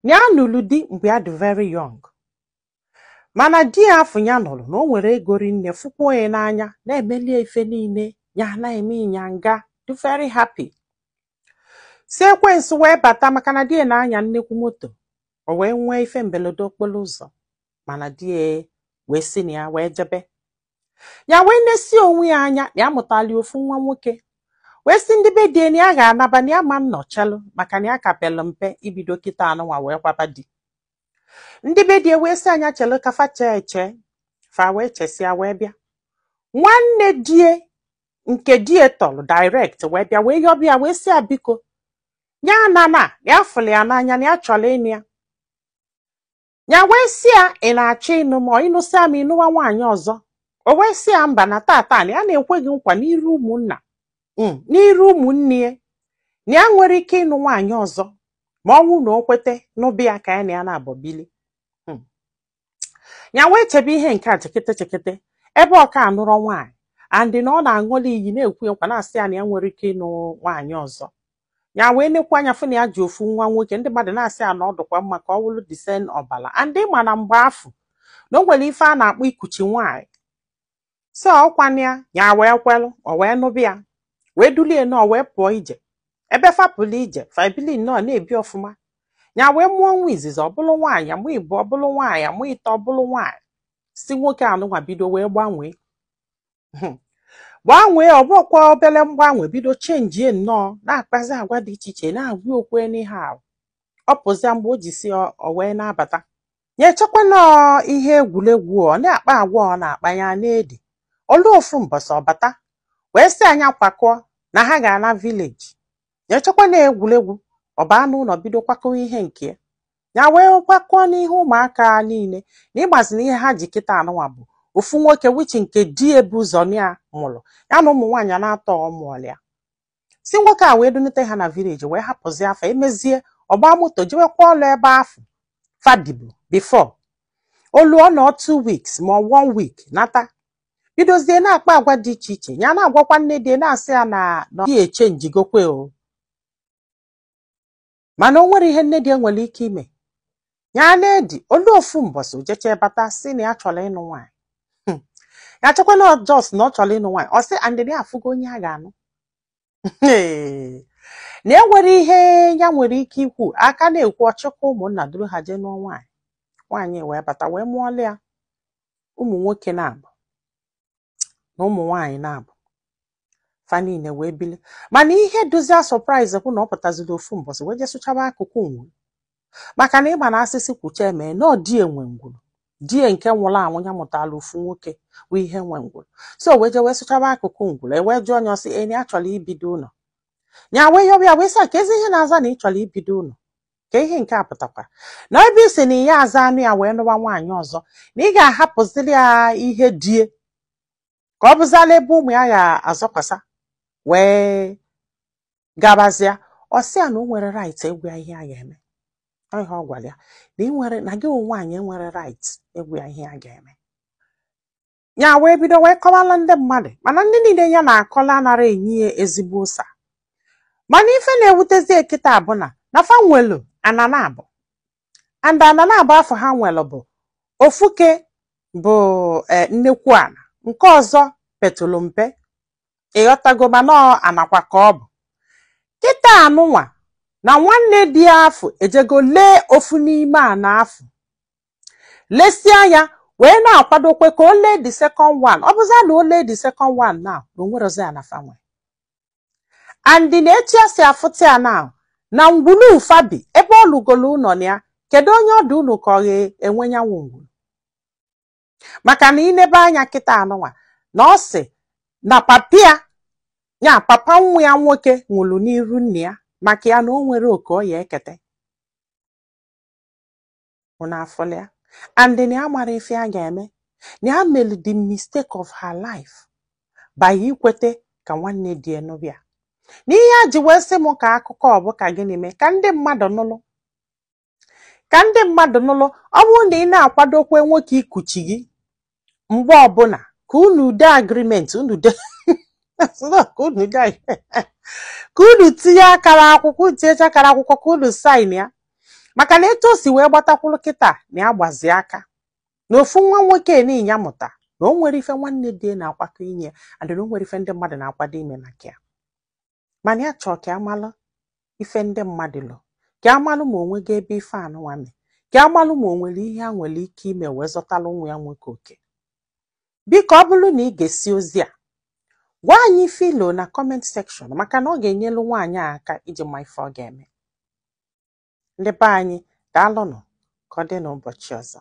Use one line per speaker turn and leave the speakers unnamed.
Ya nụlụ di mgbe ya dị very young mana di ya afụ ya nụrụ na o nwere ego rinne fụkwuo ya n'anya na-emelụ ya ife niile ya na-eme ịnyanga dị very happy sị ekwensu wee bata maka na di ya na-anya nnekwu moto o wee nwee ife mberede okporo ụzọ mana di ya wee si na ya wee jebe ya wee nesie onwe ya anya na ya mụtalụ ofu nwa nwoke wee sị ndị be di ya na ya ga-anaba na ya ama nọchalụ maka na ya ka pelụ mpe ibido kịta anụnwa wee kwaba di ndị be di ya wee sị ya ya chelụ ka fa chee eche fa wee chesịa wee bịa nwanne di ya nke di ya tọlụ direct wee bịa wee yọba ya wee sị ya biko ya anana ya fụlụ ya n'anya na ya chọrọ ịnụ ya ya wee sị ya ị na-achọ ịnụ m ị nụsịa m ị nụwa nwaanyị ọzọ o wee sị ya mba na tata na ya na-ekwe gị nkwa n'iru ụmụnna mm, n'iru ụmụnne na ya enwerọ ike ịnụ nwaanyị ọzọ ma ọ wụ na o kweta nụba ya ka ya na ya naabọ bili mm. ya wee chebe ihe nke a chekete chekete ebe ọ ka anụrọ nwaanyị and na ọ na-aṅụlụ ya iyi na-ekwe nkwa na-asị ya na ya enwerọ ike ịnụ nwaanyị ọzọ ya wee nekwu anya fụ na ya ji ofu nwa nwoke ndị mmadụ na-asị ya na ọ dụkwa mma ka ọ wụrụ the same ọbala and ị ma na mgbe afụ na o nwere ife a na-akpọ ikuchi nwaanyị so ọ kwa na ya wee kwelụ o wee nụba ya wee dulu ya nọọ wee pụọ ije ebe fa pụlụ ije fa ebili nnọọ na-ebi ọfụma ya wee mụọ nwa izizi ọ bụlụ nwaanyị mụọ ịbụọ ọ bụlụ nwaanyị mụọ ịtọ ọ bụlụ nwaanyị sị nwoke anụnwa bido wee gbanwee hmm. gbanwee ọ bụrọkwa obere mgbanwe bido chenjie nnọọ na-akpazi agwa dị iche iche na-agwa ya okwu anyhow ọ pụzia mgbe o ji si ọ wee na-abata ya echekwa na ọ ihe egwuregwu ọ na-akpa agwa ọ na-akpa ya na-edi o luo ofu mbọsị ọ bata wee sị ya ya kwakọọ na ha ga-ana village ya echekwa na egwuregwu ọ baa n'ụlọ bido kwakọwa ihe nke ya ya wee kwakọọ na ihe ụmụaka niile na ị mazi na ihe ha ji kịta anụnwa bụ ofu nwoke which nke di ya bu ụzọ ya mụrụ ya na ụmụ nwaanyị naatọ ọ mụọlụ ya sị nwoke a wee dunata ha na village wee hapụzia fa emezie ọ gbaa moto jewekwa ọlụ ebe afụ fa dịbu before o luo ọ nọọ two weeks ma ọ one week nata bidozie na-akpa agwa dị iche iche ya na-agwakwa nne di ya na-asị ya na nwa ya echenjigokwe o mana o nwerọ ihe nne di ya nwere ike ime ya na-edi o luo ofu mbọsị o jechaa bata sị na ya chọrọ ịnụ nwaanyị hmm. ya chekwa na ọ just na ọ chọrọ ịnụ nwaanyị ọ sị and ya afụgo onye ya ga-anụ na enwerọ ihe ya nwere ike ikwu a ka na-ekwu ọ chịkwa ụmụnna duru ha jee nụọ nwaanyị nwaanyị wee bata wee mụọlụ ya ụmụ nwoke naabọ na ụmụ nwaanyị naabọ fa niile wee bili mana ihe dịzi ya surprise bụ na ọ pụtaziri ofu mbọsị wee jee sụchaba akụkụ ngwuru maka na ị ma na a sị sị kwuchaa e mee na ọ di ya nwe ngwuru di ya nke nwụrụ anwụ ya mụtara ofu nwoke bụ ya nwe ngwuru so wee jee wee sụchaba akụkụ ngwuru e wee jụọ nya ọ sị na nya chọrọ ibido ụlọ ya wee yọba ya wee sị kezi ihe na-aza na ị chọrọ ibido ụlọ kee ihe nke a pụtakwara na ebe ị sị na ị yaza anụ ya wee nụwa nwaanyị ọzọ na ị ga-ahapụziri ya ihe di ya ka ọ bụzala ebe ụmụ ya ga-azọkwasa wee gabazịa ọ sị ya na o nwerọ right ịgwa ya ihe a ga-eme ọ ihe ọ gwara ya na i nwerọ na gị bụ nwaanyị enwerọ right ịgwa ya ihe a ga-eme ya wee bido wee kọbalụ ndị mmadụ mana ndị niile ya na-akọlụ anarọ enye ya ezigbo ụsa mana ife na-ewutezi ya kịta bụ na na fa nwelu ana naabọ and ana naabọ afụ ha nwelu bụ ofu ke bụ eh, nnekwu ana nke ọzọ petụlụ mpe ị ghọtago mana ọ anakwa ka ọ bụ kịta anụnwa na nwanne di afụ ejego lee ofu n'ime ana afụ lesịa ya wee na-akwadokwe ka o lee the second one ọ bụza na o lee the second one na na o nwerọzi ana fa nwe and na etu ya si afụta ya na na ngwulu fa bi ebe ọ lụgolu ụlọ na ya kedu onye ọdọ o lo ka ọ ga-enwe nyanwụ ngwulu maka na i nebe anya kịta anụnwa na ọ sị na papa ya papa nwa ya nwoke nwụrụ n'iru nne ya maka ya na o nwerọ oke ọ ya-ekete unu afụla ya and na ya amarọ ife ya ga-eme na ya melu the mistake of her life by ikwete ka nwanne di ya nụba ya na ihe ya ji wee sị m kọọ akụkọ ọ bụ ka gịnị mee ka ndị mmadụ nụlụ ka ndị mmadụ nụlụ ọ bụrụ na ị na-akwado ikwe nwoke ikuchi gị mgbe ọbụla ka unu dee agreement unu dee ka unu dee ka unu tinye akara akwụkwọ tinyecha akara akwụkwọ ka unu sign ya maka na etu o si wee gbata kwụrụ kịta na ya gbazi aka na ofu nwa nwoke nị nya mụta na o nwerọ ife nwanne di ya na-akwakọ inye ya and na o nwerọ ife ndị mmadụ na-akwado ime maka ya mana ya chọọ ka a malụ ife ndị mmadụ lo ka a malụ ma o nwego ebe ife anụnwa mee ka a malụ ma o nwere ihe a nwere ike ime wee zọtalụ nwa ya nwoke oke biko ọ bụrụ na i gesịa ozi a gwa anyị ife i lo na comment section maka na ọ ga-enyelu nwaanyị a aka iji ma ife ọ ga-eme ndị be anyị daalụnụ ka ọ dị n'ụbọchị ọzọ